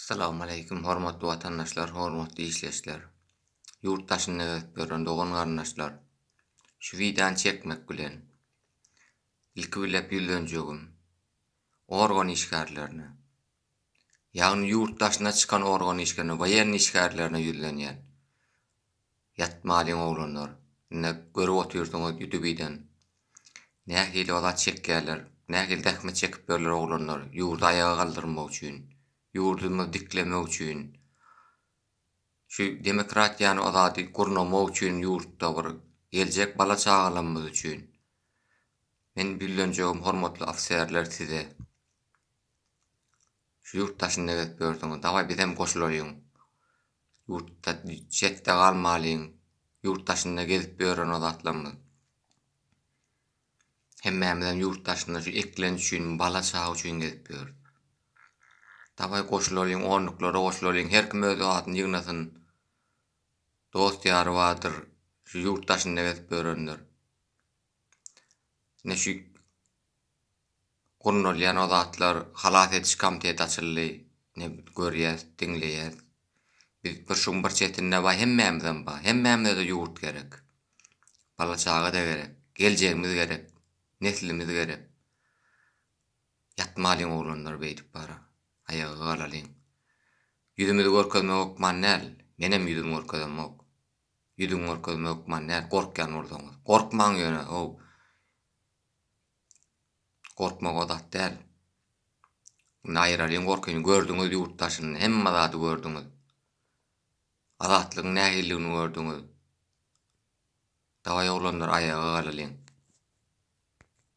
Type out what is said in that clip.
Salowmaleýkim hormatly watandaşlar hormatly işleşler ýurt daşynda gezip ýören dogan garyndaşlar şu wideony çekmek bilen ilki bile ýüzlenjegim organ işgärlerine ýagny ýurt daşyna çykan organ işgärine waýenn işgärlerine ýüzlenýän Ýatmalyň oglanlar. Indi görüp otyrsyňyz ýutubiden. Nähili azat çekýärler. Nähili zähmet çekip ýörler oglanlar ýurdy aýaga galdyrmak üçin. Ýurdumyzy diklemek üçin. Şu demokratiýany azady gurnamak üçin ýurtda bir geljek bala çagalamyz üçin. Men güllenjegim hormatly ofiserler size. Şu ýurt daşynda gezip ýörsüňiz, dawaý bizem goşulaýyň. Ýurtda çetde galmalyň. Ýurt daşynda gezip ýören o zatlarymyz. Hemmämizem ýurt daşynda şu eklenç üçin, bala çaga üçin gezip ýörüs. Dawaý goşulalyň, onluklara goşulalyň, her kim öz adyny ýygnasyn. Dost ýary bardyr, şu ýurt daşynda gezip ýörenler. Ine şu gurnalýan o zatlar halas ediş komiteti açyldy ine görýäs diňleýäs biz bir şuň bir çetinde baý hemmämizem baý hemmämizede ýurt gerek bala çagada gerek geljegimiz gerek neslimiz gerek ýatmalyň oglanlar beýdip bar aýaga galalyň ýüzümizi görkezmek okman däl menem ýüzümi görkezemok ýüzüňi görkezmek okman däl gorkýan bolsaňyz gorkmaň ýöne how. Gorkmak o zat däl. Indi aýyralyň gorkyny, gördüňiz ýurt daşyny, hemme zady gördüňiz. Azatlygyň nähilidigini gördüňiz. Dawaý oglanlar aýaga galalyň.